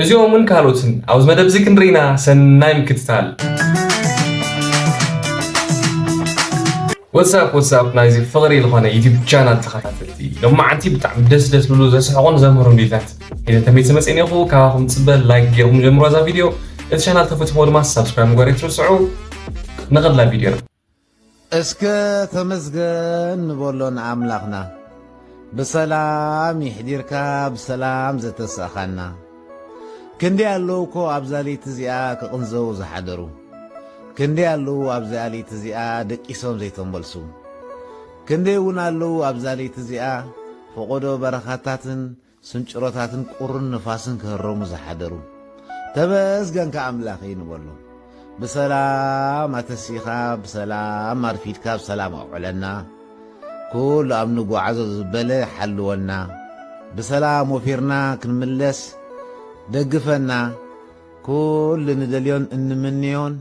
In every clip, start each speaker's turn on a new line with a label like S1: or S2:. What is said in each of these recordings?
S1: እዚኦምን ካልኦትን ኣብዚ መደብ እዚ ክንርኢና ሰናይ ምክትታል። ወትሳፕ ወትሳፕ ናይዚ ፍቕሪ ዝኾነ ዩቲብ ቻናል ተኸታተልቲ ሎማዓንቲ ብጣዕሚ ደስ ደስ ዝብሉ ዘስሕቑን ዘምህሩን ቪድዮታት ሒዘ ተመይሰ መፅእን እኹ ካባኹም ፅበ ላይክ ገይርኩም ጀምሮ እዛ ቪድዮ እቲ ቻናል ተፈትዎ ድማ ሳብስክራይብ ምግባር ኣይትርስዑ ንቐድላ ቪድዮ እስከ
S2: ተመስገን ንበሎ ንኣምላኽና ብሰላም ይሕዲርካ ብሰላም ዘተሳእኻና ክንደይ ኣለዉ እኮ ኣብዛ ለይቲ እዚኣ ክቕንዘዉ ዝሓደሩ ክንደይ ኣለዉ ኣብዚኣ ለይቲ እዚኣ ደቂሶም ዘይተመልሱ ክንደይ እውን ኣለዉ ኣብዛ ለይቲ እዚኣ ፈቖዶ በረኻታትን ስንጭሮታትን ቁርን ንፋስን ክህረሙ ዝሓደሩ ተመስገንካ ኣምላኸይ ንበሎም ብሰላም ኣተሲእኻ ብሰላም ኣርፊድካ ብሰላም ኣውዕለና ኩሉ ኣብ ንጓዓዞ ዝበለ ሓልወና ብሰላም ወፊርና ክንምለስ ደግፈና ኩሉ ንደልዮን እንምንዮን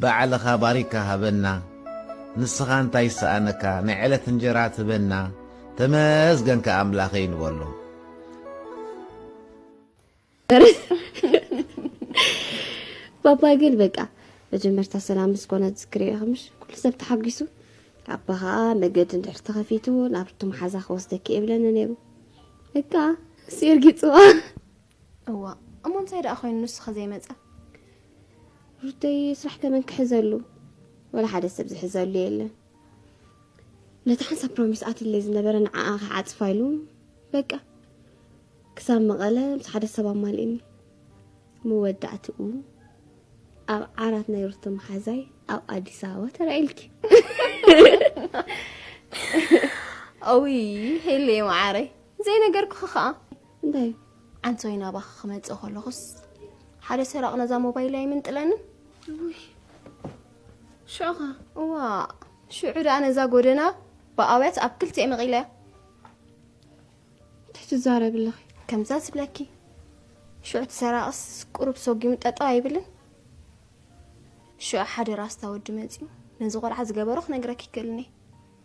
S2: ባዕልኻ ባሪካ ሃበና ንስኻ እንታይ ይሰኣነካ ናይ ዕለት እንጀራ ትበና ተመስገንካ ኣምላኸይ ንበሎ።
S3: ባባ ግን በቃ መጀመርታ ሰላም ምስ ኮነ ዝክሪ ከምሽ ኩሉ ሰብ ተሓጒሱ ኣባ ከዓ መገዲ እንድሕር ተኸፊቱ ናብ ርቱም ሓዛ ክወስደኪ እየ ብለኒ ነይሩ በቃ ሲርጊፅዋ
S4: እዋእ እሞ እንታይ ደኣ ኮይኑ ንሱኸ ዘይመጸ።
S3: ሩተየ ስራሕ ከመን ክሕዘሉ ወላ ሓደ ሰብ ዝሕዘሉ የለን ነቲ ሓንሳብ ፕሮሚስ ኣትለይ ዝነበረ ንዓኣ ክዓጽፋ ኢሉ በቃ ክሳብ መቐለ ምስ ሓደ ሰብ ኣማልእኒ መወዳእትኡ ኣብ ዓራት ናይ ሩቶ መሓዛይ ኣብ ኣዲስ ኣበባ ተራኢልኪ
S4: ኦይ ሄለየ መዓረይ ዘይነገርኩኺ ከዓ እንታይ እዩ?
S3: ዓንተወይ ናባኺ
S4: ክመፅእ ከለኹስ ሓደ ሰራቕ ነዛ ሞባይል ኣይምንጥለንን
S3: ሽዑ ኸ እዋ
S4: ሽዑ ደኣ ነዛ ጎደና ብኣውያት ኣብ ክልቲኤ መቒለያ
S3: እንታይ ትዛረብ ኣለኺ ከምዛ ዝብለኪ
S4: ሽዑ ትሰራቕስ ቁሩብ ሰጒሙ ጠጠው ኣይብልን ሽዑ ሓደ ራስታ ወዲ መፂኡ ነዚ ቆልዓ ዝገበሮ ክነግረኪ ይክእልኒ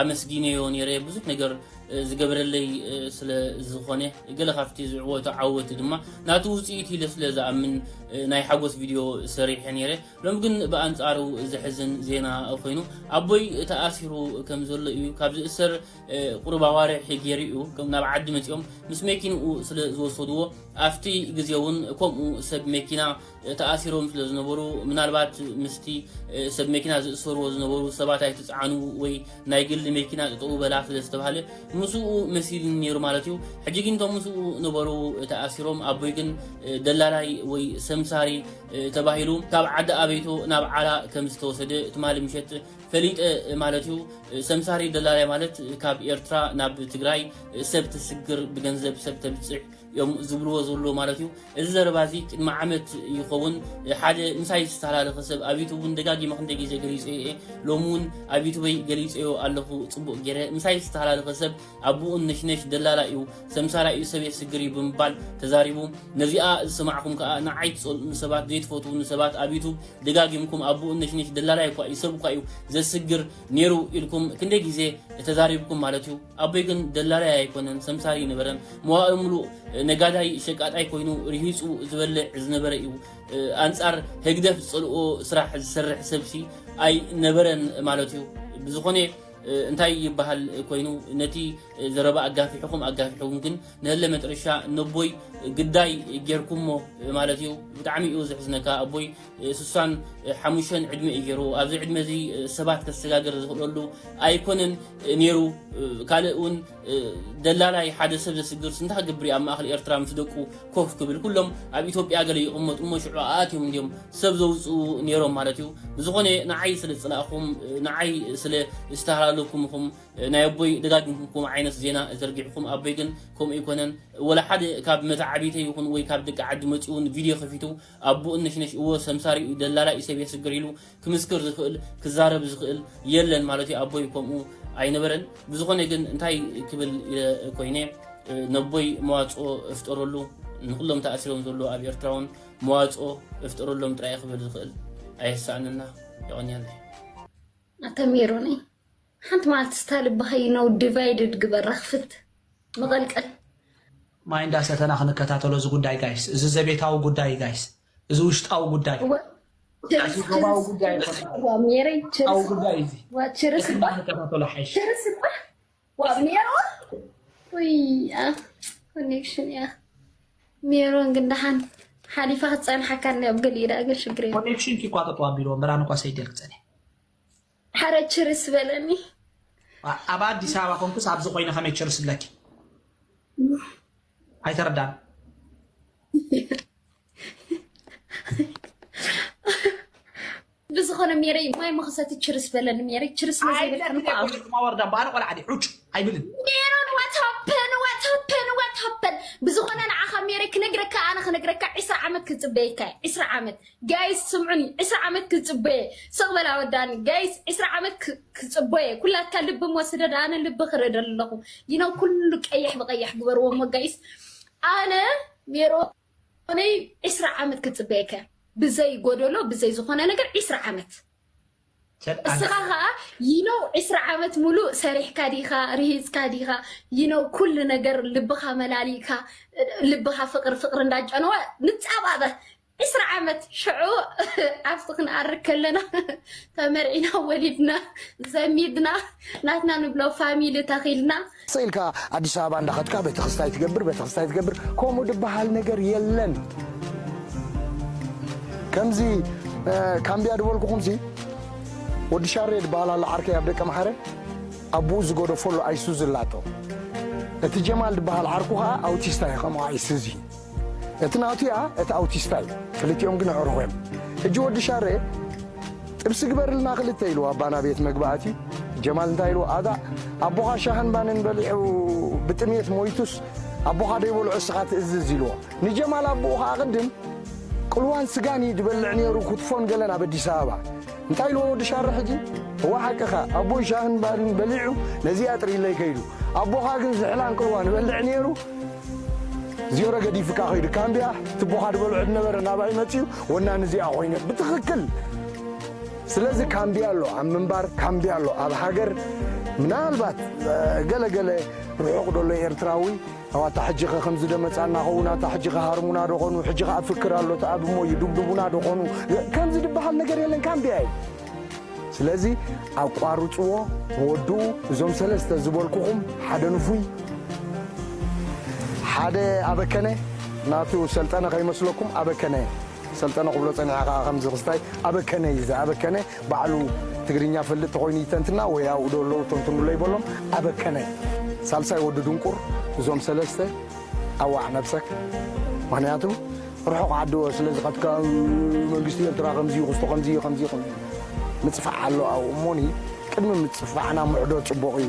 S5: ኣመስጊነዮ ኔረ ብዙሕ ነገር ዝገብረለይ ስለ ዝኾነ ገለ ካብቲ ዝዕወቶ ዓወት ድማ ናቱ ውፅኢት ኢለ ስለ ዝኣምን ናይ ሓጎስ ቪድዮ ሰሪሐ ኔረ ሎም ግን ብኣንፃሩ ዘሕዝን ዜና ኮይኑ ኣቦይ ተኣሲሩ ከም ዘሎ እዩ ካብ ዝእሰር ቁሩብ ኣዋርሒ ገይሩ እዩ ናብ ዓዲ መፂኦም ምስ መኪንኡ ስለ ዝወሰድዎ ኣብቲ ግዜ እውን ከምኡ ሰብ መኪና ተኣሲሮም ስለ ዝነበሩ ምናልባት ምስቲ ሰብ መኪና ዝእሰርዎ ዝነበሩ ሰባት ኣይትፅዓኑ ወይ ናይ ግሊ መኪና ጥጠው በላ ስለ ዝተባህለ ምስኡ መሲልኒ ነይሩ ማለት እዩ። ሕጂ ግን እቶም ምስኡ ነበሩ ተኣሲሮም ኣቦይ ግን ደላላይ ወይ ሰምሳሪ ተባሂሉ ካብ ዓዲ ኣበይቶ ናብ ዓላ ከም ዝተወሰደ ትማሊ ምሸት ፈሊጠ ማለት እዩ። ሰምሳሪ ደላላይ ማለት ካብ ኤርትራ ናብ ትግራይ ሰብ ተስግር ብገንዘብ ሰብ ተብፅሕ እዮም ዝብልዎ ዘሎ ማለት እዩ እዚ ዘረባ እዚ ቅድሚ ዓመት ይኸውን ሓደ ምሳይ ዝተሃላለኸ ሰብ ኣብ ዩቱብ እውን ደጋጊመ ክንደይ ግዜ ገሊፀዮ እየ ሎሚ እውን ኣብ ዩቱበይ ገሊፀዮ ኣለኹ ፅቡቕ ገይረ ምሳይ ዝተሃላለኸ ሰብ ኣቦኡን ነሽነሽ ደላላ እዩ ሰምሳራ እዩ ሰብ የስግር እዩ ብምባል ተዛሪቡ ነዚኣ ዝሰማዕኩም ከዓ ንዓይ ትፀልኡ ንሰባት ዘይትፈትዉ ንሰባት ኣብ ዩቱብ ደጋጊምኩም ኣቦኡን ነሽነሽ ደላላይ እኳ እዩ ሰብ እኳ እዩ ዘስግር ነይሩ ኢልኩም ክንደይ ግዜ ተዛሪብኩም ማለት እዩ ኣቦይ ግን ደላላይ ኣይኮነን፣ ሰምሳር ኣይነበረን። መዋእሉ ምሉእ ነጋዳይ ሸቃጣይ ኮይኑ ርሂጹ ዝበልዕ ዝነበረ እዩ። ኣንጻር ህግደፍ ዝጸልኦ ስራሕ ዝሰርሕ ሰብሲ ኣይነበረን ማለት እዩ። ብዝኾነ እንታይ ይበሃል ኮይኑ ነቲ ዘረባ ኣጋፊሕኹም ኣጋፊሕኩም ግን ንህለ መጥረሻ ነቦይ ግዳይ ጌርኩሞ ማለት እዩ። ብጣዕሚ እዩ ዘሕዝነካ ኣቦይ ስሳን ሓሙሸን ዕድመ እዩ ገይሩ ኣብዚ ዕድመ እዚ ሰባት ከሰጋገር ዝኽእለሉ ኣይኮነን ነይሩ ካልእ እውን ደላላይ ሓደ ሰብ ዘስግር ስንታ ክገብር እዩ ኣብ ማእኸል ኤርትራ ምስ ደቁ ኮፍ ክብል ኩሎም ኣብ ኢትዮጵያ ገለ ይቕመጡ እሞ ሽዑ ኣኣትዮም እንዲዮም ሰብ ዘውፅኡ ነይሮም ማለት እዩ ብዝኾነ ንዓይ ስለ ዝፅላእኹም ንዓይ ስለ ዝተሃላለኹም ኢኹም ናይ ኣቦይ ደጋጊምኩም ከምኡ ዓይነት ዜና ዘርጊሕኩም ኣቦይ ግን ከምኡ ኣይኮነን ወላ ሓደ ካብ መታዓቢተይ ይኹን ወይ ካብ ደቂ ዓዲ መፂኡ እውን ቪድዮ ከፊቱ ኣቡኡ ነሽነሽ እወ ሰምሳር ኢዩ ደላላ ኢሰብያስ ሽግር ኢሉ ክምስክር ዝክእል ክዛረብ ዝክእል የለን ማለት ኢዩ ኣቦይ ከምኡ ኣይነበረን ብዝኮነ ግን እንታይ ክብል ኢለ ኮይነ ነቦይ መዋጽኦ እፍጠረሉ ንኩሎም ተኣሲሮም ዘለዉ ኣብ ኤርትራ ውን መዋጽኦ እፍጠረሎም ጥራይ ክብል ዝክእል ኣየሳእነና የቀንየለይ
S6: ኣተ ሜሮነይ ሓንቲ መዓልቲ ስታ ልብኻ ይነው ዲቫይድድ ግበር ረኽፍት መቐልቀል።
S7: ማይ እንዳ ሰተና ክንከታተሎ እዚ ጉዳይ ጋይስ እዚ ዘቤታዊ ጉዳይ እዩ ጋይስ እዚ ውሽጣዊ ጉዳይ እወ እዚ ችርስ ዶባዊ ችርስ ጉዳይ ችርስ ኣይኮነን ዋብ ሜረይ
S6: ውሽጣዊ ችርስ ጉዳይ
S7: እዩ እዚ ዋ ችርስ እዚ እባ
S6: እንዳክንከታተሎ ሓይሽ
S7: ችርስ እባ
S6: ዋብ ሜሮ ውይ ኣ ኮኔክሽን እያ ሜሮን ግን ደሓን ሓሊፋ ክትፀንሓካ እኒ ኣብ ገሊኡ ደኣ ግን ሽግር የብሉን ኮኔክሽን ኪ እኳ ጠጠው
S7: ኣቢልዎ ምራን እኳ ሰይደል ክፀንሕ
S6: ሓረ ችርስ በለኒ። ኣብ
S7: ኣዲስ ኣበባ ኮንኩስ ኣብዚ ኮይነ ከመይ ችርስ ብለኪ? ኣይተረዳን።
S6: ብዝኾነ ሜረይ ማይ መኸሰቲ ችርስ በለኒ ሜረይ ችርስ መዘይበልከን ወርዳ
S7: ባነ ቆልዓ ዑጭ ኣይብልን ሜሮን ዋታፐን
S6: ዋታፐን ዋታፐን ብዝኾነ ንዓኻ ሜረይ ክነግረካ ኣነ ክነግረካ ዕስራ ዓመት ክፅበየካ ዕስራ ዓመት ጋይስ ስምዑኒ ዕስራ ዓመት ክጽበየ ስቅ በል ኣወዳኒ ጋይስ ዕስራ ዓመት ክጽበየ ኩላትካ ልቢ እሞ ስደድ ኣነ ልቢ ክርኢ ደለኹ ይነው ኩሉ ቀይሕ ብቀይሕ ግበርዎ እሞ ጋይስ ኣነ ሜሮነይ ዕስራ ዓመት ክጽበየከ ብዘይ ጎደሎ ብዘይ ዝኾነ ነገር ዕስራ ዓመት እስኻ ከዓ ይነው ዕስራ ዓመት ሙሉእ ሰሪሕካ ዲኻ ርሂፅካ ዲኻ ይነው ኩሉ ነገር ልብኻ መላሊእካ ልብኻ ፍቅሪ ፍቅሪ እንዳጨነወ ንፃባበ ዕስራ ዓመት ሽዑ ዓርሲ ክንኣርግ ከለና ተመርዒና ወሊድና ዘሚድና ናትና ንብሎ ፋሚሊ ተኺልና። ስቅ ኢልካ
S8: ኣዲስ ኣበባ እንዳኸድካ ቤተክስታይ ትገብር ቤተክስታይ ትገብር ከምኡ ድበሃል ነገር የለን ከምዚ ካምቢያ ድበልኩኹምሲ ወዲ ሻሬ ድበሃል ኣሎ ዓርከይ ኣብ ደቂ መሓረ ኣቡኡ ዝገደፈሉ ኣይሱዚ ኣላቶ እቲ ጀማል ድበሃል ዓርኩ ከዓ ኣውቲስታ እዩ ከምኡ ኣይሱዚ እቲ ናቱያ እቲ ኣውቲስታዩ ክልቲኦም ግን ኣዕሩኹዮም ሕጂ ወዲ ሻሬ ጥብሲ ግበርልና ክልተ ኢልዎ ኣባ ናቤት መግቢ ኣትዩ ጀማል እንታይ ኢልዎ ኣጋ ኣቦኻ ሻህን ባንን በሊዑ ብጥምየት ሞይቱስ ኣቦኻ ደይበልዑ እስኻ ትእዝዝ ኢልዎ ንጀማል ኣቡኡ ኸኣ ቅድም ቅልዋን ስጋንዩ ድበልዕ ኔሩ ኩትፎን ገለን ኣብ ኣዲስ ኣበባ እንታይ ኢልዎ ወዲ ሻረ ሕጂ እወ ሓቅኻ ኣቦይ ሻህን ባንን በሊዑ ነዚኣ ጥሪለይ ከይዱ ኣቦኻ ግን ዝሕል ኣንቅልዋ ንበልዕ ኔሩ ዜሮ ገዲፍካ ከይዱ ካምቢያ ትቦኻ ድበልዑ ድነበረ ናባይ መጺኡ ወናኒ እዚኣ ኮይነ ብትኽክል ስለዚ ካምቢያ ኣሎ ኣብ ምንባር ካምቢያ ኣሎ ኣብ ሃገር ምናልባት ገለገለ ርሑቕ ደሎ ኤርትራዊ ኣው ኣታ ሕጂኸ ከምዚ ዶ መጻና ኸውን ኣታ ሕጂኸ ሃርሙና ዶ ኾኑ ሕጂ ኸኣ ፍክር ኣሎ ተኣብ እሞ ይዱብዱቡና ዶ ኾኑ ከምዚ ድበሃል ነገር የለን ካምቢያ እዩ ስለዚ ኣቋርጽዎ ወድኡ እዞም ሰለስተ ዝበልኩኹም ሓደ ንፉይ ሓደ ኣበከነ ናቱ ሰልጠነ ከይመስለኩም ኣበከነ ሰልጠነ ክብሎ ጸኒሐ ከኣ ከምዚ ክስታይ ኣበከነ እዩ ዝኣበከነ ባዕሉ ትግርኛ ፈልጥ ተኮይኑ ይተንትና ወይ ኣብኡ ዶ ኣለዉ ተንትኑለይ በሎም ኣበከነ ሳልሳይ ወዲ ድንቁር እዞም ሰለስተ ኣዋዕ ነብሰክ ምክንያቱ ርሑቅ ዓዲ ስለ ዝከትካ መንግስቲ ኤርትራ ከምዚ እዩ ክስቶ ከምዚ እዩ ከምዚ እዩ ምጽፋዕ ኣሎ ኣብኡ እሞኒ ቅድሚ ምጽፋዕና ምዕዶ ጽቡቅ እዩ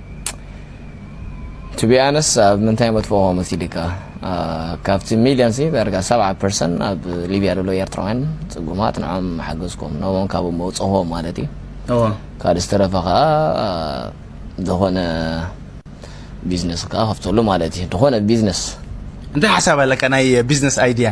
S9: to be honest ኣብ ምንታይ መጥፍኦ መሲልካ ካብቲ ሚልዮን ሲ ዳርጋ ሰብዓ ፐርሰንት ኣብ ሊብያ ዘሎ ኤርትራውያን ፅጉማት ንዖም ሓገዝኩም ነቦም ካብ መውፅኹዎ ማለት እዩ ካልእ ዝተረፈ ከዓ ዝኾነ ቢዝነስ ከዓ ከፍተሉ ማለት እዩ ዝኾነ ቢዝነስ እንታይ ሓሳብ
S10: ኣለካ ናይ ቢዝነስ ኣይድያ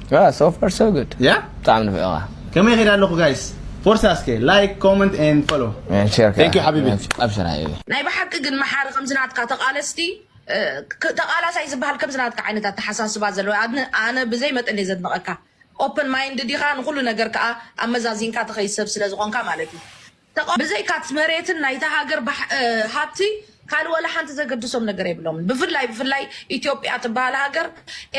S10: ያ ሶ ፋር ሶ
S9: ጉድ ያ ብጣዕሚ ንፍዕኻ ከመይ ኸይድ ኣለኹ
S10: ጋይስ ፎርሳ እስከ ላይክ ኮመንት ኤንድ ፎሎ ቴንክ ዩ ሓቢቢ
S9: ኣብሽር
S10: ሓቢቢ ናይ
S9: ብሓቂ ግን መሓሪ
S11: ከምዚ ናትካ ተቃለስቲ ተቃላሳይ ዝበሃል ከምዚ ናትካ ዓይነት ኣተሓሳስባ ዘለዎ ኣነ ብዘይ መጠን እየ ዘድንቀካ ኦፕን ማይንድ ዲካ ንኩሉ ነገር ከዓ ኣመዛዚንካ ትከይድ ሰብ ስለዝኮንካ ማለት እዩ ተቃ ብዘይካት መሬትን ናይታ ሃገር ባሕ ሃብቲ ካልእ ዋላ ሓንቲ ዘገድሶም ነገር የብሎምን። ብፍላይ ብፍላይ ኢትዮጵያ ትበሃል ሃገር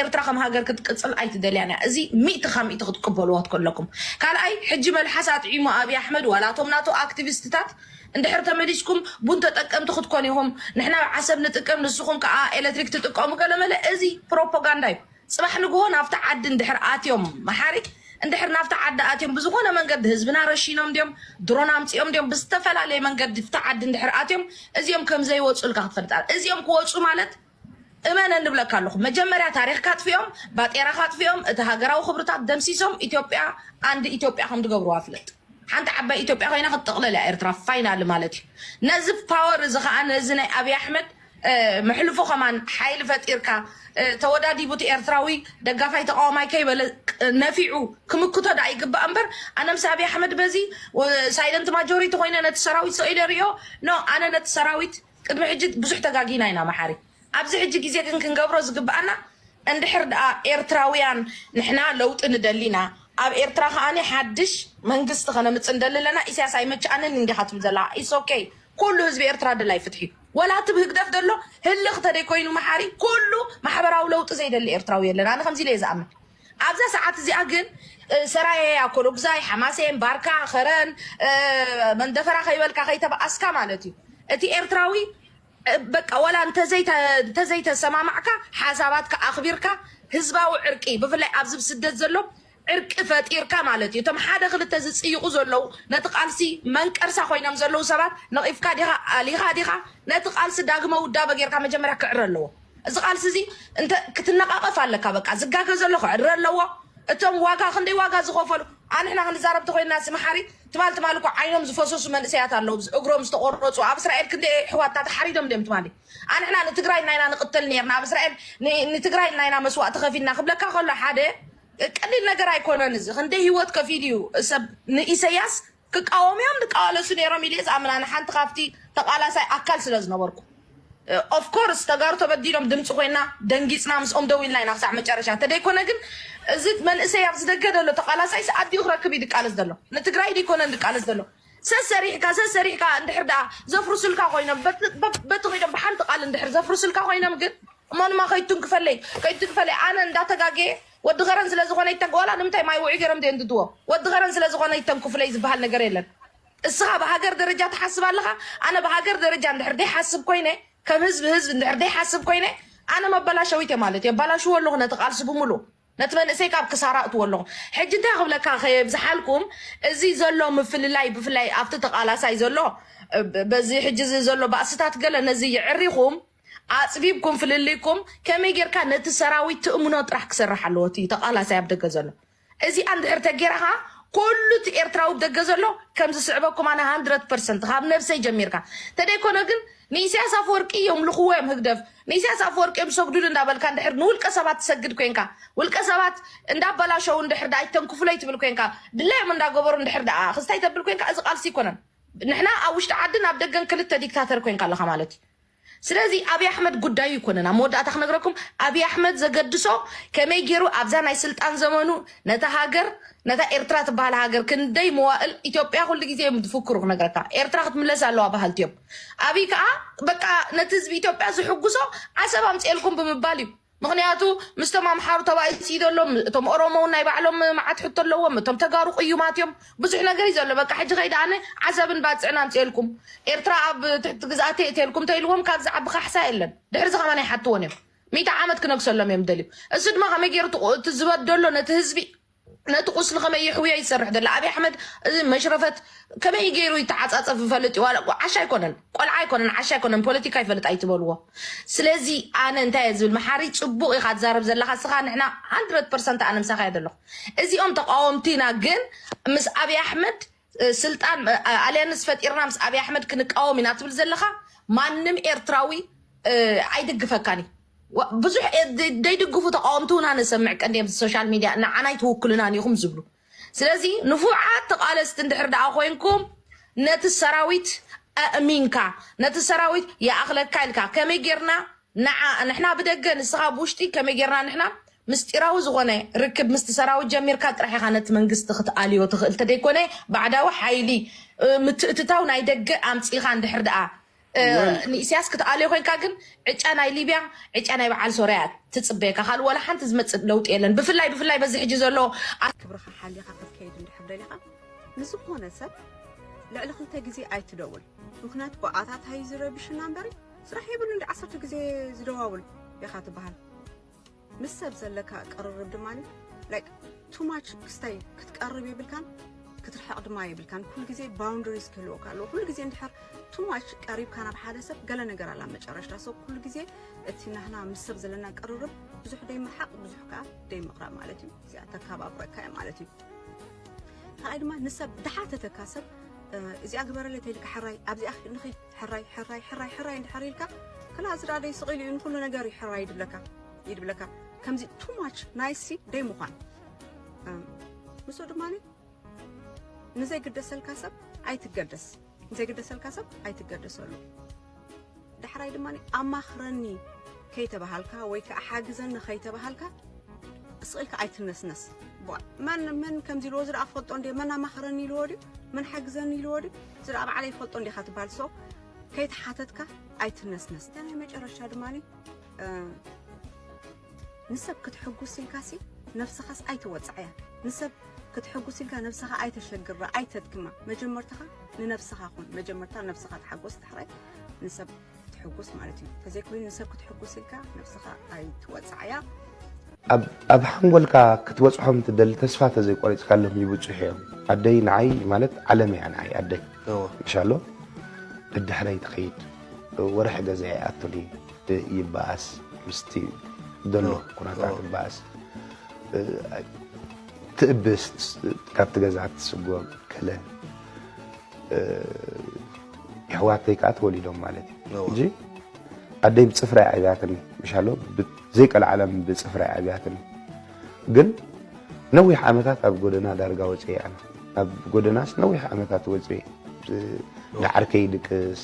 S11: ኤርትራ ከም ሃገር ክትቅጽል ኣይትደልያን እያ። እዚ ሚእቲ ካብ ሚእቲ ክትቅበልዎ ከለኩም። ካልኣይ ሕጂ መልሓስ ኣጥዒሙ ኣብይ ኣሕመድ ዋላ እቶም ናቱ ኣክቲቪስትታት እንድሕር ተመሊስኩም ቡን ተጠቀምቲ ክትኮኑ ኢኹም፣ ንሕና ዓሰብ ንጥቀም ንስኹም ከኣ ኤለትሪክ ትጥቀሙ ገለመለ እዚ ፕሮፖጋንዳ እዩ። ፅባሕ ንግሆ ናብቲ ዓዲ እንድሕር ኣትዮም መሓሪ እንድሕር ናብቲ ዓዲ ኣትዮም ብዝኾነ መንገዲ ህዝብና ረሺኖም ድዮም ድሮን ኣምፂኦም ድዮም ብዝተፈላለየ መንገዲ ፍቲ ዓዲ እንድሕር ኣትዮም እዚኦም ከምዘይወፁልካ ክትፈልጥ ኣለ እዚኦም ክወፁ ማለት እመነ ንብለካ ኣለኹ መጀመርያ ታሪክ ካጥፍኦም ባጤራ ካጥፍኦም እቲ ሃገራዊ ክብርታት ደምሲሶም ኢትዮጵያ ኣንድ ኢትዮጵያ ከም ድገብርዋ ፍለጥ ሓንቲ ዓባይ ኢትዮጵያ ኮይና ክትጥቕለል እያ ኤርትራ ፋይናል ማለት እዩ ነዚ ፓወር እዚ ከዓ ነዚ ናይ ኣብይ ኣሕመድ መሕልፎ ከማን ሓይሊ ፈጢርካ ተወዳዲቡ እቲ ኤርትራዊ ደጋፋይ ተቃዋማይ ከይበለ ነፊዑ ክምክቶ ደኣ ይግባእ እምበር ኣነ ምስ ኣብይ ኣሕመድ በዚ ሳይለንት ማጆሪቲ ኮይነ ነቲ ሰራዊት ሰኢለ ይሪኦ ኖ ኣነ ነቲ ሰራዊት ቅድሚ ሕጂ ብዙሕ ተጋጊና ኢና መሓሪ ኣብዚ ሕጂ ግዜ ግን ክንገብሮ ዝግብኣና እንድሕር ደኣ ኤርትራውያን ንሕና ለውጢ ንደሊ ኢና ኣብ ኤርትራ ከኣኒ ሓድሽ መንግስቲ ከነምጽእ ንደሊ ኣለና ኢሳያስ ኣይመችኣንን እንዲኻ ትብል ዘለኻ ኢትስ ኦኬ ኩሉ ህዝቢ ኤርትራ ደላይ ፍትሒ እዩ ወላ እቲ ብ ህግደፍ ደሎ ህልኽ ተደይ ኮይኑ መሓሪ ኩሉ ማሕበራዊ ለውጢ ዘይደሊ ኤርትራዊ የለን ኣነ ከምዚ ኢለ ኢየ ዝኣምን ኣብዛ ሰዓት እዚኣ ግን ሰራየ ኣኮሎጉዛይ ሓማሴን ባርካ ከረን መንደፈራ ከይበልካ ከይተበኣስካ ማለት እዩ እቲ ኤርትራዊ በቃ ወላ እንተዘይተሰማማዕካ ሓሳባትካ ኣኽቢርካ ህዝባዊ ዕርቂ ብፍላይ ኣብዚ ስደት ዘሎ ዕርቂ ፈጢርካ ማለት እዩ። እቶም ሓደ ክልተ ዝጽይቑ ዘለዉ ነቲ ቃልሲ መንቀርሳ ኮይኖም ዘለዉ ሰባት ነቒፍካ ዲኻ ኣሊኻ ዲኻ ነቲ ቃልሲ ዳግመ ውዳበ ጌርካ መጀመርያ ክዕረ ኣለዎ። እዚ ቃልሲ እዚ እንተ ክትነቓቐፍ ኣለካ በቃ ዝጋገ ዘሎ ክዕረ ኣለዎ። እቶም ዋጋ ክንደይ ዋጋ ዝኸፈሉ ኣንሕና ክንዛረብ ተኮይንና ሲ መሓሪ ትማል ትማል እኮ ዓይኖም ዝፈሰሱ መንእሰያት ኣለዉ እግሮም ዝተቆረጹ ኣብ እስራኤል ክንደይ ኣሕዋትና ተሓሪዶም ድዮም ትማሊ ኣንሕና ንትግራይ ናይና ንቅተል ነርና ኣብ እስራኤል ንትግራይ ናይና መስዋእቲ ከፊልና ክብለካ ከሎ ሓደ ቀሊል ነገር ኣይኮነን እዚ ክንደይ ሂወት ከፊሉ እዩ ሰብ ንኢሰያስ ክቃወሙ እዮም ድቃዋለሱ ነይሮም ኢለ ዝኣምን ኣነ ሓንቲ ካብቲ ተቃላሳይ ኣካል ስለ ዝነበርኩ ኦፍ ኮርስ ተጋሩ ተበዲሎም ድምፂ ኮይና ደንጊፅና ምስኦም ደው ኢልና ኢና ክሳዕ መጨረሻ እንተደይኮነ ግን እዚ መንእሰይ ኣብዚ ደገ ዘሎ ተቃላሳይስ ኣዲኡ ክረክብ እዩ ድቃለስ ዘሎ ንትግራይ ድይኮነን ድቃለስ ዘሎ ሰሰሪሕካ ሰሰሪሕካ እንድሕር ደኣ ዘፍርሱልካ ኮይኖም በቲ ኮይኖም ብሓንቲ ቃል እንድሕር ዘፍርሱልካ ኮይኖም ግን እሞ ንማ ከይትንክፈለይ ከይትንክፈለይ ኣነ እንዳተጋገየ ወዲ ከረን ስለ ዝኾነ ይተንክ ዋላ ንምንታይ ማይ ውዑይ ገይሮም ዘየንድድዎ ወዲ ከረን ስለ ዝኾነ ይተንክፉለይ ዝበሃል ነገር የለን እስኻ ብሃገር ደረጃ ትሓስብ ኣለኻ ኣነ ብሃገር ደረጃ እንድሕር ዘይሓስብ ኮይነ ከም ህዝቢ ህዝቢ እንድሕር ዘይሓስብ ኮይነ ኣነ መበላሸዊት እየ ማለት እየ ባላሽዎ ኣለኹ ነቲ ቃልሲ ብምሉእ ነቲ መንእሰይ ካብ ክሳራ ኣእትዎ ኣለኹ። ሕጂ እንታይ ክብለካ ከየብዝሓልኩም እዚ ዘሎ ምፍልላይ ብፍላይ ኣብቲ ተቃላሳይ ዘሎ በዚ ሕጂ እዚ ዘሎ ባእስታት ገለ ነዚ የዕሪኹም ኣጽቢብኩም ፍልልይኩም ከመይ ጌርካ ነቲ ሰራዊት ትእምኖ ጥራሕ ክሰርሕ ኣለዎ እቲ ተቃላሳይ ኣብ ደገ ዘሎ እዚኣ እንድሕር ተጌራ ከኣ ኩሉ እቲ ኤርትራዊ ብ ደገ ዘሎ ከም ዝስዕበኩም ኣነ ሃንድረድ ፐርሰንት ካብ ነብሰይ ጀሚርካ ተደይኮነ ግን ንኢሳያስ ኣፈወርቂ የምልኽዎ እዮም ህግደፍ ንኢሳያስ ኣፈወርቂ እዮም ሰግዱሉ እንዳበልካ እንድሕር ንውልቀ ሰባት ትሰግድ ኮንካ ውልቀ ሰባት እንዳበላሸው እንድሕር ደኣ ይተንክፉለይ ትብል ኮንካ ድላዮም እንዳገበሩ እንድሕር ደኣ ክስታይ ተብል ኮንካ እዚ ቃልሲ ኣይኮነን ንሕና ኣብ ውሽጢ ዓድን ኣብ ደገን ክልተ ዲክታተር ኮንካ ኣለኻ ማለት እዩ ስለዚ ኣብይ ኣሕመድ ጉዳዩ ይኮነን ኣብ መወዳእታ ክነግረኩም ኣብይ ኣሕመድ ዘገድሶ ከመይ ገይሩ ኣብዛ ናይ ስልጣን ዘመኑ ነታ ሃገር ነታ ኤርትራ ትበሃል ሃገር ክንደይ መዋእል ኢትዮጵያ ኩሉ ግዜ እዮም ዝፍክሩ ክነግረካ ኤርትራ ክትምለስ ኣለዋ በሃልቲ እዮም ኣብይ ከዓ በቃ ነቲ ህዝቢ ኢትዮጵያ ዝሕጉሶ ዓሰብ ኣምፅኤልኩም ብምባል እዩ ምክንያቱ ምስቶም ኣምሓሩ ተባኢስ እዩ ዘሎ እቶም ኦሮሞ እውን ናይ ባዕሎም መዓት ሕቶ ኣለዎም እቶም ተጋሩ ቅዩማት እዮም ብዙሕ ነገር እዩ ዘሎ በቃ ሕጂ ከይዳ ኣነ ዓሰብን ባፅዕን ኣምፅኤልኩም ኤርትራ ኣብ ትሕቲ ግዝኣተይ እትልኩም ተኢልዎም ካብ ዝዓቢ ካሕሳ የለን ድሕርዚ ከማን ኣይሓትዎን እዮም ሚእቲ ዓመት ክነግሰሎም እዮም ደልዩ እሱ ድማ ከመይ ገይሩ እቲ ዝበደሎ ነቲ ህዝቢ ነቲ ቁስሊ ከመይ ይሕውዮ እዩ ዝሰርሕ ዘሎ ኣብይ ኣሕመድ እዚ መሽረፈት ከመይ ገይሩ ይተዓፃፀፍ ይፈልጥ እዩ ዋላ እኮ ዓሻ ኣይኮነን ቆልዓ ኣይኮነን ዓሻ ኣይኮነን ፖለቲካ ይፈልጥ ኣይትበልዎ ስለዚ ኣነ እንታይ እየ ዝብል መሓሪ ፅቡቅ ኢካ ትዛረብ ዘለካ ስካ ንሕና 100 ፐርሰንት ኣነ ምሳካ እየ ዘለኩ እዚኦም ተቃወምቲና ግን ምስ ኣብይ ኣሕመድ ስልጣን ኣልያንስ ፈጢርና ምስ ኣብይ ኣሕመድ ክንቃወም ኢና ትብል ዘለኻ ማንም ኤርትራዊ ኣይድግፈካን እዩ ዋ- ብዙሕ ኤ- ደ- ደይድግፉ ተቃወምቲ እውን ኣነ ሰምዕ ቀንዲ ኣብዚ ሶሻል ሚድያ ንዓና ኣይትውክሉናን ኢኹም ዝብሉ ስለዚ ንፉዓት ተቃለስቲ እንድሕር ደኣ ኮንኩም ነቲ ሰራዊት ኣእሚንካ ነቲ ሰራዊት ይኣኽለካ ኢልካ ከመይ ጌርና ንዓ ንሕና ብደገ ንስኻ ብውሽጢ ከመይ ጌርና ንሕና ምስጢራዊ ዝኾነ ርክብ ምስቲ ሰራዊት ጀሚርካ ጥራሕ ኢኻ ነቲ መንግስቲ ክትኣልዮ ትኽእል ተደይኮነ ባዕዳዊ ሓይሊ ምትእትታው ናይ ደገ ኣምጺእኻ እንድሕር ድኣ ወል ንኢስያስ ክትኣልዮ ኮንካ ግን ዕጫ ናይ ሊብያ ዕጫ ናይ በዓል ሶርያ እያ ትጽበየካ ካልእ ዋላ ሓንቲ ዝመጽእ ለውጢ የለን ብፍላይ ብፍላይ በዚ ሕጂ ዘሎ ክብርኻ ሓሊኻ
S12: ክትከይድ እንድሕር ደሊኻ ንዝኾነ ሰብ ልዕሊ ክልተ ግዜ ኣይትደውል። ምኽንያቱ ብኣታ ታይ ዝረብሽና እምበር ስራሕ የብሉን ድዩ ዓሰርተ ግዜ ዝደዋውል ኢኻ ትበሃል ምስ ሰብ ዘለካ ቅርርብ ድማ ላይክ ቱ ማች ክስታይ ክትቀርብ የብልካን ክትርሕቕ ድማ የብልካን ኩሉ ግዜ ባውንደሪስ ክህልወካ ኣለዎ ኩሉ ግዜ እንድሕር ቱ ማች ቀሪብካ ናብ ሓደ ሰብ ገለ ነገር ኣላ መጨረሽታ ሰብ ኩሉ ግዜ እቲ ናህና ምስ ሰብ ዘለና ቅርርብ ብዙሕ ደይምርሓቕ ብዙሕ ከዓ ደይምቕራብ ማለት እዩ እዚኣ ተካባብረካ እያ ማለት እዩ ካልኣይ ድማ ንሰብ ድሓተተካ ሰብ እዚኣ ግበረለይ ተልካ ሕራይ ኣብዚኣ ንኺድ ሕራይ ሕራይ ሕራይ ሕራይ እንድሕር ኢልካ ክላ እዚ ደኣ ደይ ስቒሉ እዩ ንኩሉ ነገር እዩ ሕራይ ይድብለካ ይድብለካ ከምዚ ቱ ማች ናይሲ ደይ ምዃን ንሱ ድማ ንዘይግደሰልካ ሰብ ኣይትገደስ ንዘይግደሰልካ ሰብ ኣይትገደሰሉ ዳሕራይ ድማ ኣማኽረኒ ከይተባሃልካ ወይ ከዓ ሓግዘኒ ከይተባሃልካ ስቕ ኢልካ ኣይትነስነስ መን መን ከምዚ ኢልዎ ዝረኣ ክፈልጦ እንደ መን ኣማኽረኒ ኢልዎ ድዩ መን ሓግዘኒ ኢልዎ ድዩ ዝረኣ ባዕለይ ይፈልጦ እንዲኻ ትበሃል ሰው ከይተሓተትካ ኣይትነስነስ እታ ናይ መጨረሻ ድማ ንሰብ ክትሕጉስ ኢልካሲ ነብስኻስ ኣይተወጽዓያ ንሰብ ክትሕጉስ ኢልካ ነብስኻ ኣይተሸግራ ኣይተድክማ መጀመርታኻ ንነብስኻ ኩን መጀመርታ ነብስኻ ተሓጎስ ዳሕራይ ንሰብ ክትሕጉስ ማለት እዩ ተዘይኮይኑ ንሰብ ክትሕጉስ ኢልካ ነብስኻ ኣይትወጽዓያ
S13: ኣብ ሓንጎልካ ክትበፅሖም ትደሊ ተስፋ ተዘይቆሪፅካሎም ይብፅሑ እዮም ኣደይ ንዓይ ማለት ዓለም እያ ንዓይ ኣደይ እንሻሎ ደድሕረይ ትኸይድ ወርሒ ገዛ ይኣቱኒ ይበኣስ ምስቲ ዘሎ ኩነታት ይበኣስ ትእብስ ካብቲ ገዛ ትስጎም ከለ የሕዋተይ ከዓ ተወሊዶም ማለት እዩ እንጂ ኣደይ ብፅፍራ ኣብያትኒ ምሻሎ ዘይቀልዓለም ብፅፍራ ኣብያትኒ ግን ነዊሕ ዓመታት ኣብ ጎደና ዳርጋ ወፅአ ኣብ ጎደናስ ነዊሕ ዓመታት ወፅአ ንዓርከይ ይድቅስ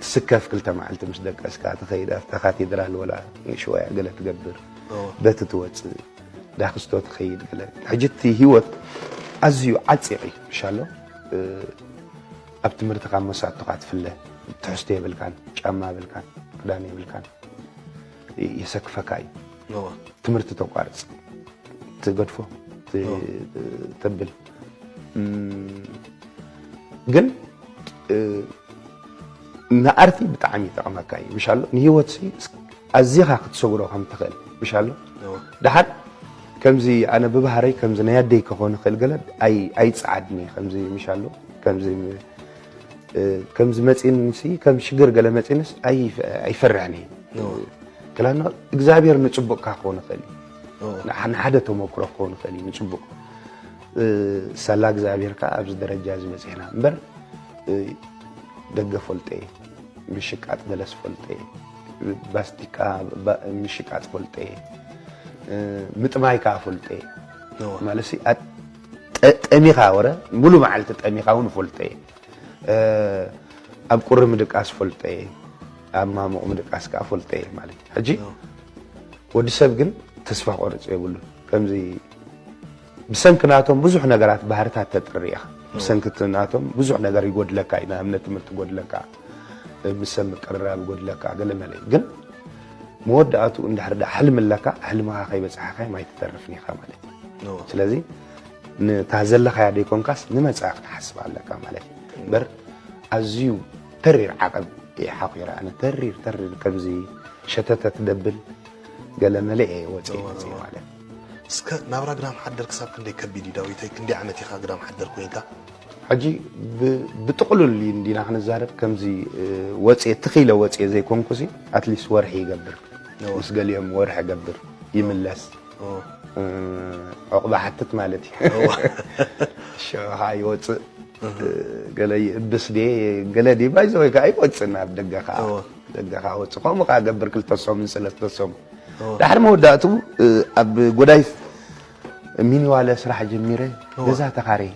S13: ትስከፍ ክልተ መዓልቲ ምስ ደቀስካ ትኸይድ ኣብታ ካቴድራል ወላ ንእሽወያ ገለ ትገብር በቲ ትወፅእ ዳክስቶ ትኸይድ ገለ ሕጂ እቲ ሂወት ኣዝዩ ዓፂቕ እዩ ምሻሎ ኣብ ትምህርትኻ መሳቶኻ ትፍለ ትሕዝቶ የብልካን ጫማ የብልካን ክዳን የብልካን የሰክፈካ እዩ ትምህርቲ ተቋርፅ ትገድፎ ተብል ግን ንኣርቲ ብጣዕሚ ይጠቕመካ እዩ ምሻሎ ንሂወት ኣዚኻ ክትሰጉሮ ከም ትኽእል ምሻሎ ድሓር ከምዚ ኣነ ብባህረይ ከምዚ ናይ ኣደይ ክኾን ይኽእል ገለ ኣይፅዓድኒ ከምዚ ምሻሎ ከምዚ ከምዚ መፂንሲ ከም ሽግር ገለ መፂንስ ኣይፈርሕን እዩ ክላና እግዚኣብሔር ንፅቡቅካ ክኾን ይኽእል እዩ ንሓደ ተመክሮ ክኾን ይኽእል እዩ ንፅቡቅ ሳላ እግዚኣብሔር ከዓ ኣብዚ ደረጃ እዚ በፂሕና እምበር ደገ ፈልጠ እየ ምሽቃጥ ገለስ ፈልጠ እየ ባስቲካ ምሽቃጥ ፈልጠ እየ ምጥማይ ከዓ ፈልጠ እየ ማለት ጠሚኻ ወረ ሙሉ መዓልቲ ጠሚኻ ውን እፈልጦ እየ ኣብ ቁሪ ምድቃስ እፈልጦ እየ ኣብ ማሙቕ ምድቃስ ከዓ እፈልጦ እየ ማለት እዩ ሕጂ ወዲ ሰብ ግን ተስፋ ቆርፅ የብሉን ከምዚ ብሰንኪ ናቶም ብዙሕ ነገራት ባህርታት ተጥሪ ኢኻ ብሰንኪ ናቶም ብዙሕ ነገር ይጎድለካ እዩ ንኣብነት ትምህርቲ ይጎድለካ ምስ ሰብ ምቅርራብ ይጎድለካ ገለ መለ እዩ ግን መወዳእትኡ እንድሕር ዳ ሕልሚ ኣለካ ሕልምኻ ከይበፅሓኻዮም ኣይትተርፍን ኢኻ ማለት እዩ ስለዚ ንታ ዘለኻያ ደይኮንካስ ንመፃኢ ክትሓስብ ኣለካ ማለት እዩ እምበር ኣዝዩ ተሪር ዓቐብ እየ ሓቂረ ኣነ ተሪር ተሪር ከምዚ ሸተተት ደብል ገለ መለ እየ ወፂ ወፅኢ ማለት እስከ
S14: ናብራ ግዳም ሓደር ክሳብ ክንደይ ከቢድ እዩ ዳዊተይ ክንደይ ዓመት ኢኻ ግዳም ሓደር ኮይንካ ሕጂ
S13: ብጥቕሉል እንዲና ክንዛረብ ከምዚ ወጽየ ትኽ ኢለ ወጽየ ዘይኮንኩሲ ኣትሊስት ወርሒ ይገብር ምስ ገሊኦም ወርሒ እገብር ይምለስ ዕቑባ ሓትት ማለት እዩ ሽዑ ከዓ ይወፅእ ገለ ይእብስ ድ ገለ ድ ባይዘ ወይ ከዓ ይወፅእና ኣብ ደገ ከዓ ደገ ከዓ ወፅ ከምኡ ከዓ ገብር ክልተ ሰሙን ሰለስተ ሰሙን ዳሕሪ መወዳእትኡ ኣብ ጎዳይ ሚኒዋለ ስራሕ ጀሚረ ገዛ ተኻርየ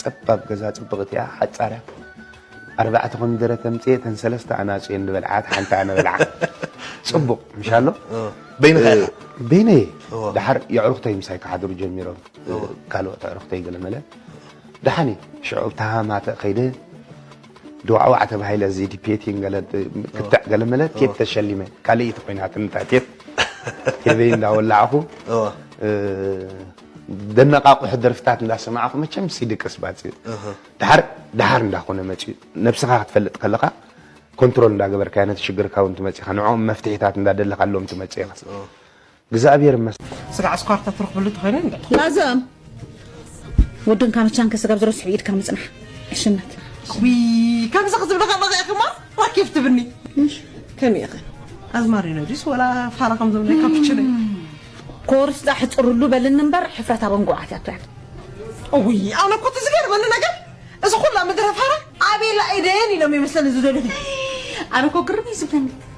S13: ፀባብ ገዛ ፅብቕቲ እያ ሓፃር እያ ኣርባዕተ ኮሚደረ ተምፅየ ተን ሰለስተ ኣናፁ እየን ዝበልዓ እቲ ሓንቲ ኣነ በልዓ ፅቡቕ ምሻሎ በይንኻ ኢኻ በይነይ እየ ድሓር የዕሩኽተይ ምሳይ ክሓድሩ ጀሚሮም ካልኦት ኣዕሩኽተይ ገለመለ ድሓን እዩ ሽዑ ተሃማተ ከይደ ድዋዕዋዕ ተባሂለ እዚ ዲፔቲን ገለ ክትዕ ገለ መለ ቴፕ ተሸሊመ ካልእ ኢቲ ኮይናትኒ እታ ቴፕ ቴበይ እንዳወላዕኹ ደነቃቁሑ ደርፍታት እንዳሰማዕኹ መቸም ሲ ድቅስ ባፅ እዩ ድሓር ድሓር እንዳኾነ መፅዩ ነብስኻ ክትፈልጥ ከለኻ ኮንትሮል እንዳገበርካ ነቲ ሽግርካ እውን ትመፅኻ ንዕኦም መፍትሒታት እንዳደለኻሎም ትመፅእ ኢኻ እግዝኣብሔር ይመስገን። ስጋዕ ስኳር ተትረኽብሉ
S15: ተኾይኑ እንደ ላዘም ወድን ካመቻን ከስጋብ ዝረስሑ ኢድካ ምጽናሕ ዕሽነት ዊ ከምዚ ክዝብለ ከለኸ ኢኺ እሞ ራኬብ ትብኒ ከመይ ኢኺ ኣዝማሪኖ ድዩስ ወላ ፋራ ከም ዝብለ ካፕችነ ኮርስጣ ሕፅርሉ በልን እምበር ሕፍረት ኣብ እንጉዓት እያ ትውዕል እውይ ኣነ እኮ እቲ ዝገርመኒ ነገር እዚ ኩላ ምድረ ፋራ ኣቤላ ኢደየን ኢሎም ይመስለኒ ዝደልኹ ኣነ እኮ ግርም እዩ ዝብለኒ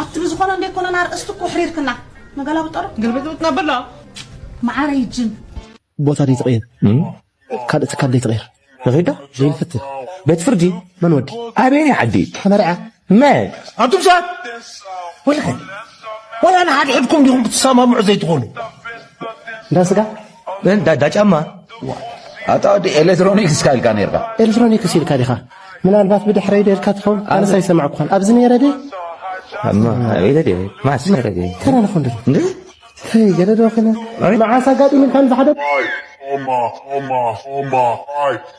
S15: ኣቲ ብዝኾነ እንዴ ኮነን ኣርእስቲ እኮ ኣሕሪርክና ንገላብጠሮ ግልብጥብጥ ነብላ መዓረይ ጅን ቦታ ደይ
S16: ትቕይር ካልእ ትካል ደይ ትቕይር ንኺዶ ዘይንፍትህ ቤት ፍርዲ መን ወዲ ኣበየናይ ዓዲ ተመርዐ መን ኣቱም ሰባት ወይኸ ወላ ንሓድሕድኩም ዲኹም ክትሰማምዑ ዘይትኾኑ እንዳ ስጋ ግን ዳዳ ጫማ ኣታ
S17: ወዲ ኤሌክትሮኒክስ እስካ ኢልካ ነርካ ኤሌክትሮኒክስ ኢልካ
S16: ዲኻ ምናልባት ብድሕረይ ዶ ኢልካ ትኸውን ኣነስ ኣይሰማዕኩኻን ኣብዚ ነይረ ድየ
S17: ኣቤለ ድየ ማስ ነረ ድየ ከነ ንኹን ድየ
S16: ተይ ገለ ዶ ኺነ መዓስ ኣጋጢሙልካ ንዝሓደ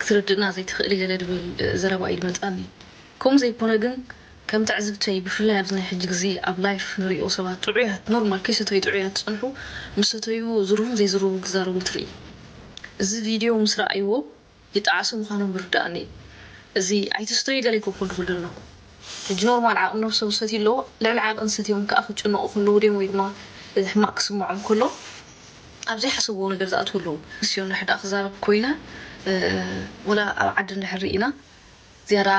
S11: ክትርድእና ዘይትኽእሊ ገለ ድብል ዘረባ ኢዩ ድመጻኒ ከምኡ ዘይኮነ ግን ከም ትዕዝብተይ ብፍላይ ኣብዚ ናይ ሕጂ ግዜ ኣብ ላይፍ ንሪኦ ሰባት ጥዑያት ኖርማል ከይሰተዩ ጥዑያት ዝጸንሑ ምስ ሰተዩ ዝርቡን ዘይዝርቡን ክዛረቡ ትርኢ እዚ ቪድዮ ምስ ረኣይዎ ይጠዓሱ ምኻኖም ብርድኣኒ እዚ ኣይትስተዩ ገለ ይኮኮ ድብል ደሎ ሕጂ ኖርማል ዓቕሚ ነብሶም ዝሰትዩ ኣለዎ ልዕሊ ዓቐን ሰትዮም ክኣ ክጭነቑ ክልዉ ድዮም ወይ ድማ ሕማቕ ክስምዖም ከሎ ኣብ ዘይሓሰብዎ ነገር ዝኣትዉ ኣለዉ ንስዮ እንድሕር ድኣ ክዛረብ ኮይነ ወላ ኣብ ዓዲ እንድሕር ሪኢና ዝያዳ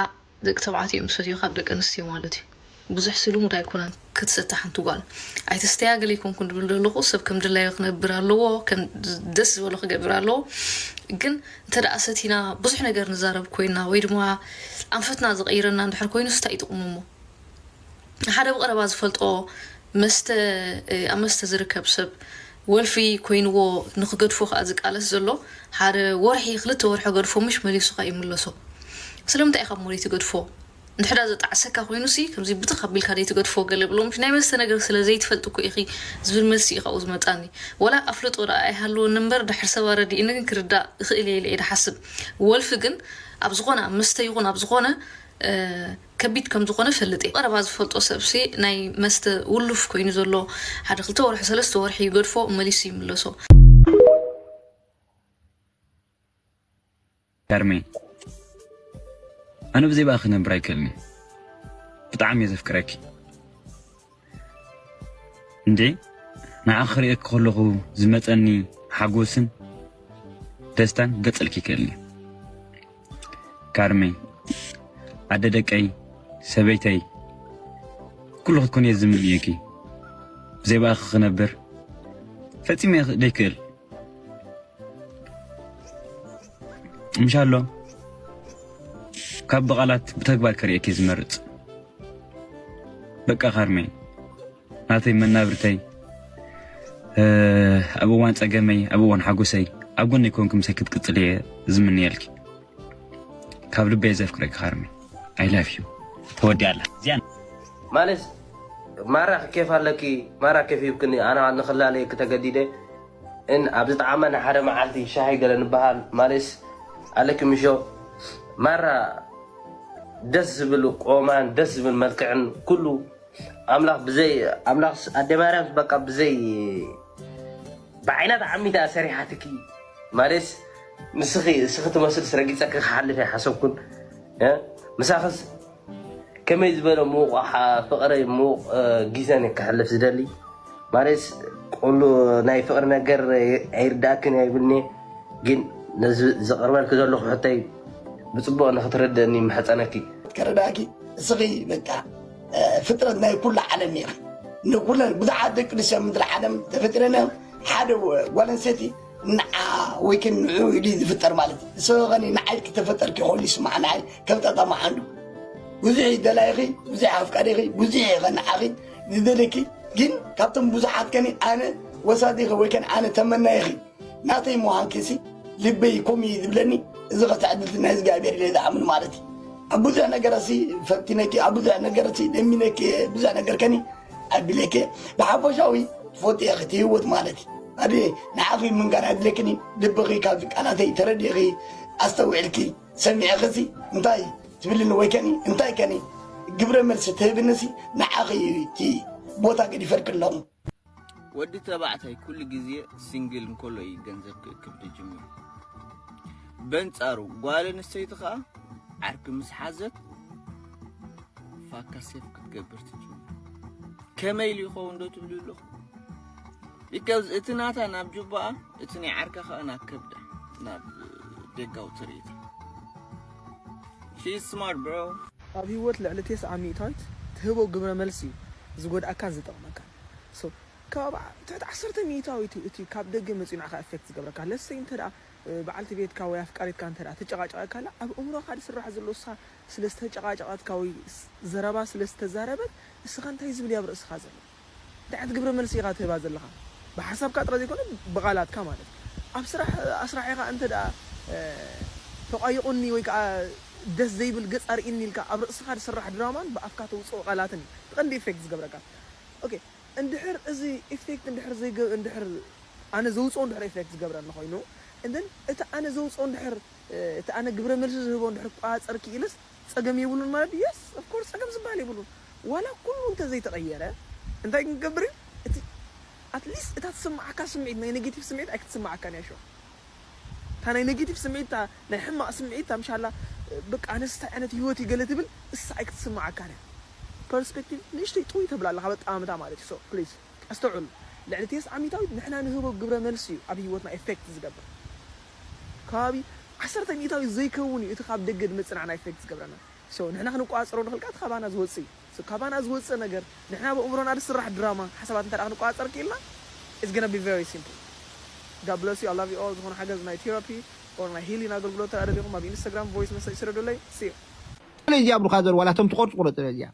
S11: ደቂ ተባዕትዮ እዮም ዝሰትዩ ካብ ደቂ ኣንስትዮ ማለት እዩ ብዙሕ ስሉሙድ ኣይኮነን ክትሰቲ ሓንቲ ጓል ኣይትስተያ ገለ ኣይኮንኩን ድብል ዘለኹ ሰብ ከም ድላዩ ክነብር ኣለዎ ከም ደስ ዝበሎ ክገብር ኣለዎ ግን እንተ ደኣ ሰቲና ብዙሕ ነገር ንዛረብ ኮይና ወይ ድማ ኣንፈትና ዝቐይረና እንድሕር ኮይኑስ እንታይ ጥቕሙ እሞ ሓደ ብቐረባ ዝፈልጦ መስተ ኣብ መስተ ዝርከብ ሰብ ወልፊ ኮይንዎ ንክገድፎ ከዓ ዝቃለስ ዘሎ ሓደ ወርሒ ክልተ ወርሒ ገድፎ ምሽ መሊሱ ከዓ ይምለሶ ስለምንታይ ኢኻ ሞሪት ገድፎ እንተድኣ ዘጣዕሰካ ኮይኑሲ ከምዚ ብትኽ ኣቢልካ ዘይትገድፎ ገለ ብሎምሲ ናይ መስተ ነገር ስለ ዘይትፈልጢ እኮ ኢኺ ዝብል መልሲ እዩ ካብኡ ዝመጻኒ ዋላ ኣፍልጦ ድኣ ኣይሃልወኒ እምበር ድሕሪ ሰብ ኣረዲእኒ ግን ክርዳእ እኽእል እየ ኢለ እየ ድሓስብ ወልፊ ግን ኣብ ዝኾነ ኣብ መስተ ይኹን ኣብ ዝኾነ ከቢድ ከም ዝኾነ እፈልጥ እየ ብቐረባ ዝፈልጦ ሰብሲ ናይ መስተ ውሉፍ ኮይኑ ዘሎ ሓደ ክልተ ወርሒ ሰለስተ ወርሒ ይገድፎ መሊሱ ይምለሶ።
S18: ከርሜ ኣነ ብዘይባኪ ክነብር ኣይክእልን ብጣዕሚ እየ ዘፍቅረኪ እንዴ ንዓኺ ክርእየኪ ከለኹ ዝመፀኒ ሓጎስን ደስታን ገፅልኪ ይክእልኒ ካርሜ ኣደ ደቀይ ሰበይተይ ኩሉ ክትኮን እየ ዝምንየኪ ብዘይባኪ ክነብር ፈፂመ ዘይክእል እንሻሎ ካብ ብቓላት ብተግባር ከርእየኪ ዝመርፅ በቃ ካርመይ ናተይ መናብርተይ ኣብ እዋን ፀገመይ ኣብ እዋን ሓጎሰይ ኣብ ጎነይ ኮንኪ ምሳይ ክትቅፅል እየ ዝምነየልኪ። ካብ ልበይ ዘፍቅረኪ ሃርሚ ኣይ ላቭ ዩ ተወዲ ኣላ እዚኣ ማለስ
S19: ማራ ክኬፍ ኣለኪ ማራ ኬፍ ሂብክኒ ኣነ ንክላለየኪ ተገዲደ እን ኣብ ዝጠዓመ ንሓደ መዓልቲ ሻሂ ገለ ንበሃል ማለስ ኣለኪ ምሾ ማራ ደስ ዝብል ቆማን ደስ ዝብል መልክዕን ኩሉ ኣምላኽ ብዘይ ኣምላኽ ኣደ ማርያም በቃ ብዘይ ብዓይና ተዓሚታ ሰሪሓትኪ ማለስ ንስኺ እስኺ ትመስልስ ረጊፀኪ ክሓልፍ ኣይሓሰብኩን እ ምሳኽስ ከመይ ዝበለ ምዉቕ ሓ- ፍቕሪ ምዉቕ እ፣ ግዜን እየ ክሕልፍ ዝደሊ ማለትስ ቁሉ ናይ ፍቕሪ ነገር ኣይርዳእክን እየ ይብልኒ ግን ነዚ ዘቕርበልኪ ዘለኹ ሕቶይ ብፅቡቕ ንክትርድእኒ ይምሕፀነኪ ከረዳኪ
S20: እስኺ በቃ እ፣ ፍጥረት ናይ ኩሉ ዓለም ኢኺ ንኩለን ብዙሓት ደቂ ኣንስትዮ ኣብ ምድሪ ዓለም ተፈጢረን እዮም ሓደ ወ- ጓል ኣንስተይቲ ንዓ ወይ ከን ንዑ ኢሉ ዝፍጠር ማለት እዩ ንሰበ ኸኒ ንዓይ ክተፈጠርኪ ከሉ ይስማዕ ንዓይ ከም ጣጣ መሓንዱ ብዙሕ ይደላይኺ ብዙሕ ኣፍቃሪኺ ብዙሕ እየ ኸንዓኺ ዝደለኪ ግን ካብቶም ብዙሓት ከኒ ኣነ ወሳዲኺ ወይ ከን ኣነ ተመናይኺ ናተይ ምዃንኪሲ ልበይ ኮም እዩ ዝብለኒ እዚ ከተዕድልቲ ናይ እግዚኣብሔር ኢለ ዝኣምን ማለት እዩ ኣብ ብዙሕ ነገረሲ ፈቲነኪ ኣብ ብዙሕ ነገረሲ ደሚነኪ ብዙሕ ነገር ከኒ ኣድለኬ ብሓፈሻዊ ትፈትየ ክቲ ህይወት ማለት እዩ ኣድየ ንዓኺ ምንጋር ኣድለክኒ ልብኺ ካብዚ ቃላተይ ተረዲኺ ኣስተውዕልኪ ሰሚዕኽሲ እንታይ ትብልኒ ወይ ከኒ እንታይ ከኒ ግብረ መልሲ ትህብንሲ ንዓኺ እዩ እቲ ቦታ ገዲፈልክ ኣለኹ ወዲ
S10: ተባዕታይ ኩሉ ግዜ ሲንግል እንከሎ እዩ ገንዘብ ክእክብ ዝጅምር በንጻሩ ጓል ኣንስተይቲ ከዓ ዓርኪ ምስ ሓዘት ፋካ ሴፍ ክትገብር ትጅምር ከመይ ኢሉ ይኸውን ዶ ትብሉ ኣለኹ ቢካዝ እቲ ናታ ናብ ጁባኣ እቲ ናይ ዓርካ ከዓ ናብ ከብዳ ናብ ደጋዊ ትርኢት ሺ ስማርት ብሮ ኣብ ህይወት ልዕሊ
S21: ቴስዓ ሚእታዊት ትህቦ ግብረ መልሲ እዩ ዝጎድኣካን ዝጠቕመካን so ካብ ትሕቲ ዓሰርተ ሚእታዊት እዩ እቲ ካብ ደገ መጺኡ ንዓኻ ኤፌክት ዝገብረካ ለሰይ እንተ በዓልቲ ቤትካ ወይ ኣፍቃሪትካ እንተ ትጨቓጨቐካላ ኣብ እምሮኻ ዝስራሕ ዘሎ እሳ ስለ ዝተጨቓጨቐትካ ወይ ዘረባ ስለ ዝተዛረበት ንስኻ እንታይ ዝብል እዩ ኣብ ርእስኻ ዘሎ? እንታይ ዓይነት ግብረ መልሲ ኢኻ ትህባ ዘለኻ? ብሓሳብካ ጥራይ ዘይኮነ ብቓላትካ ማለት እዩ። ኣብ ስራሕ ኣስራሒኻ እንተድኣ ተቋይቑኒ ወይ ከኣ ደስ ዘይብል ገጽ ኣርእይኒ ኢልካ ኣብ ርእስኻ ዝስራሕ ድራማን ብኣፍካ ተውጽኦ ቃላትን እዩ እቲ ቀንዲ ኢፌክት ዝገብረካ። ኦኬ እንድሕር እዚ ኢፌክት እንድሕር ዘይገ እንድሕር ኣነ ዘውጽኦ እንድሕር ኢፌክት ዝገብረኒ ኮይኑ and then እቲ ኣነ ዘውጽኦ እንድሕር እቲ ኣነ ግብረ መልሲ ዝህቦ እንድሕር ክቆጻጸር ክኢለስ ጸገም የብሉን ማለት ድዩ? Yes! Of course! ጸገም ዝበሃል የብሉን። ዋላ ኩሉ እንተ ዘይተቐየረ እንታይ ክንገብር እዩ? እቲ At least እታ ትስምዓካ ስምዒት ናይ ነጌቲቭ ስምዒት ኣይክትስምዓካን እያ ሹዕ። እታ ናይ ነጌቲቭ ስምዒት እታ ናይ ሕማቕ ስምዒት እታ ምሻላ በቃ ኣነስ እንታይ ዓይነት ህይወት እዩ ገለ ትብል እሳ ኣይክትስምዓካን እያ። Perspective ንእሽተይ ጥውይ ተብላ ኣለኻ ኣብ ኣጠማምታ ማለት እዩ። So please! ኣስተውዕሉ ልዕሊ ቴስዓ ሚታዊት ንሕና ንህቦ ግብረ መልሲ እዩ ኣብ ህይወትና Effect ዝገብር። ከባቢ ዓሰርተ ሚእታዊት ዘይከውን እዩ እቲ ካብ ደገ ድመጽና ዕና ኢፌክት ዝገብረና so ንሕና ክንቆጻጸሮ ንኽእል ከኣ እቲ ካባና ዝወጽእ እዩ so ካባና ዝወጽእ ነገር ንሕና በእምሮና ድስራሕ ድራማ ሓሳባት እንተ ክንቆጻጸር ኪኢልና it's gonna be very simple God bless you I love you all ዝኾነ ሓገዝ ናይ ቴራፒ or ናይ ሂሊን ኣገልግሎት እንተ ደሊኹም ኣብ ኢንስታግራም voice message ስደዱለይ see you። ስለዚ ኣብርካ
S1: ዘር ዋላ እቶም ትቆርጹ ቁረጽ ስለዚያ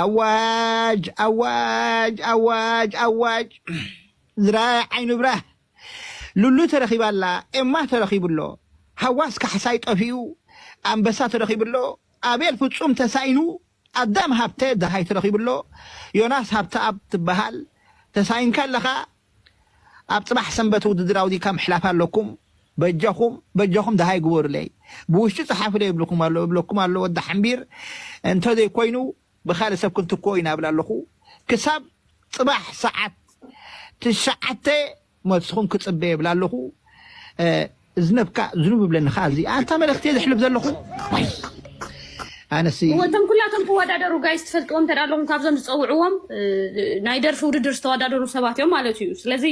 S1: ኣዋጅ ኣዋጅ ኣዋጅ ኣዋጅ ዝራይ ዓይኑ ብራህ ሉሉ ተረኺባ ኣላ ኤማ ተረኺቡ ኣሎ ሃዋስ ካሕሳይ ጠፊኡ ኣንበሳ ተረኺቡ ኣሎ ኣቤል ፍጹም ተሳኢኑ ኣዳም ሃብተ ደሃይ ተረኺቡ ኣሎ ዮናስ ሃብተኣብ ትበሃል ተሳኢንካ ኣለኻ ኣብ ጽባሕ ሰንበት ውድድር ኣውዲካ ምሕላፍ ኣለኩም በጃኹም በጃኹም ደሃይ ግበሩለይ ብውሽጢ ጽሓፉለይ እብልኩም ኣሎ እብለኩም ኣሎ ወዲ ሓምቢር እንተዘይ ኮይኑ ብካልእ ሰብ ክንትክኦ ኢና እብል ኣለኹ ክሳብ ጽባሕ ሰዓት ትሽዓተ መልስኹም ክጽበ እብል ኣለኹ እዝነብካ ዝኑብ ይብለኒ ከኣ እዚ ኣንታ መልእኽቲ እየ ዘሕልፍ ዘለኹ ዋይ ኣነሲ እወ እቶም ኩላቶም ክወዳደሩ
S6: ጋይስ ትፈልጥዎም እንተ ኣለኹም ካብዞም ዝፀውዕዎም ናይ ደርፊ ውድድር ዝተወዳደሩ ሰባት እዮም ማለት እዩ ስለዚ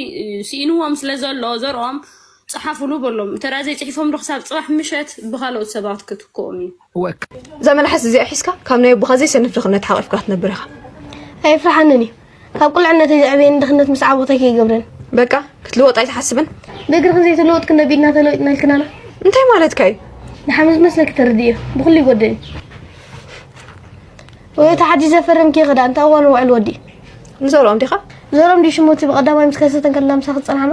S6: ስኢንዎም ስለ ዘሎ ዘርኦም ጸሓፉሉ በሎም እንተ ዘይጽሒፎም ዶ ክሳብ ጽባሕ ምሸት ብኻልኦት ሰባት ክትክኦም እዩ። እወ እዛ
S4: መልሓስ እዚኣ ሒዝካ ካብ ናይ ኣቦኻ ዘይሰንፍ ድኽነት ሓቒፍካ ክትነብር ኢኻ። ኣየፍርሓንን
S22: እዩ ካብ ቁልዕነተይ ዘዕበየኒ ድኽነት ምስ ዓወተይ ከይገብረን በቃ ክትልወጥ
S4: ኣይትሓስብን ብእግሪ ክንዘይ ተለወጥ
S22: ክንደ ቢድና ተለዊጥና ኢልክናና እንታይ ማለትካ እዩ
S4: ንሓመ ዝመስለኪ
S22: ተርድእዮ ብኩሉ ይጎድል እዩ ወይ እቲ ሓዲሽ ዘፈረምኪ ክዳ እንታይ እዋን ውዕል ወዲ ንዘርኦም ዲኻ
S4: ዘርኦም ዲ ሽሞቲ
S22: ብቀዳማይ ምስ ከሰተን ከለና ምሳኺ ዝፀናሕና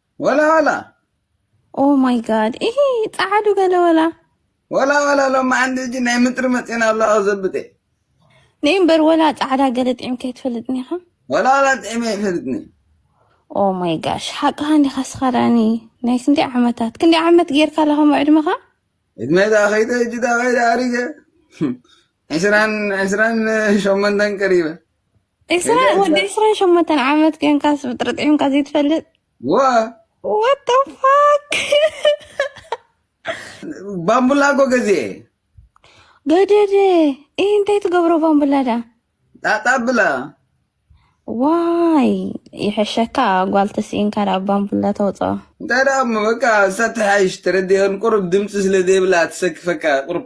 S2: ወላ
S23: ወላ
S2: ኦ ማይ ጋድ ይሄ ጻዓዱ ገለ ወላ ወላ
S23: ወላ ሎማ ዓንዲ እጂ ናይ ምጥሪ መጽና ኣሎ ዘብጤ ነይ
S2: እምበር ወላ ጻዕዳ ገለ ጥዒም ከይትፈልጥኒ ኢኻ ወላ ወላ ጥዒም
S23: ኣይፈልጥኒ ኦ
S2: ማይ ጋሽ ሓቅኻ እንዲኻ ስኻዳኒ ናይ ክንደይ ዓመታት ክንደይ ዓመት ጌርካ ኣለኻ ዕድመኻ ዕድመ ዳ
S23: ከይተ እጅ ዳ ከይዳ ኣሪገ ዕስራን ዕስራን ሸሞንተን ቀሪበ ዕስራ ወዲ
S2: ዕስራን ሸሞንተን ዓመት ኮንካስ ብጥሪ ጥዒምካ ዘይትፈልጥ ወ What the fuck?
S23: ባምቡላ እኮ ገዚኤ
S2: ገደደ ይህ እንታይ ትገብሮ ባምቡላ ዳ ጣጣ ብላ ዋይ ይሕሸካ ጓል ተስኢንካ ዳ ባምቡላ ተውፅኦ እንታይ ደኣ እሞ
S23: በቃ እሳ ትሓይሽ ተረዲኦን ቁሩብ ድምፂ ስለ ዘይብላ ትሰክፈካ ቁሩብ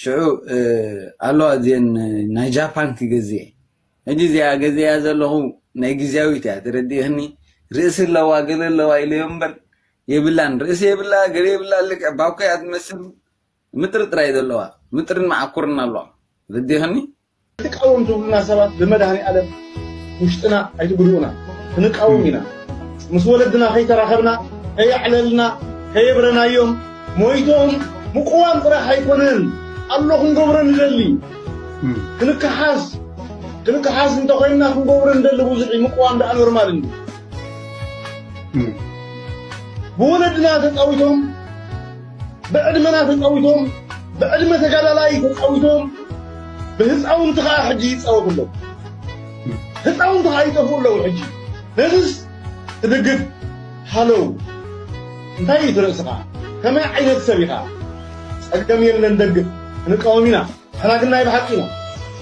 S23: ሽዑ ኣለዋ እዚን ናይ ጃፓን ክገዝ እየ ሕጂ እዚኣ ገዚኣ ዘለኹ ናይ ግዜያዊት እያ ተረዲእኽኒ ርእሲ ኣለዋ ገለ ኣለዋ ኢለዮ እምበር የብላን ርእሲ የብላ ገለ የብላ ልክዕ ባኮ እያ ትመስል ምጥርጥር እየ ዘለዋ ምጥርን መዓኩርን ኣለዋ ረዲእኽኒ ኣይትቃወም ትብሉና
S16: ሰባት ብመድሃኒኣለም ውሽጥና ኣይትጉድኡና ክንቃወም ኢና ምስ ወለድና ከይተራኸብና ከየዕለልና ከየብረናዮም ሞይቶም ምቁዋም ጥራሕ ኣይኮነን ኣሎ ክንገብሮ ንደሊ ክንከሓስ ክንከሓስ እንተኮይንና ክንገብሮ ንደሊ ብዙሕ ምቁዋም ደኣ ኖርማል እንዲ ብወለድና ተፃዊቶም ብዕድመና ተጻዊቶም ብዕድመ ተጋዳላይ ተጻዊቶም ብህፃውንቲ ከዓ ሕጂ ይፃወቱ ኣለዉ ህፃውንቲ ከዓ ይጠፍኡ ኣለዉ ሕጂ ነዚስ ትድግፍ ሃለው እንታይ እዩ ትርእስኻ ከመይ ዓይነት ሰብ ኢኻ ፀገም የለን ደግፍ ክንቃወም ኢና ንሕና ግን ናይ ብሓቂ ኢና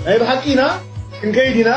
S16: ናይ ብሓቂ ኢና ክንከይድ ኢና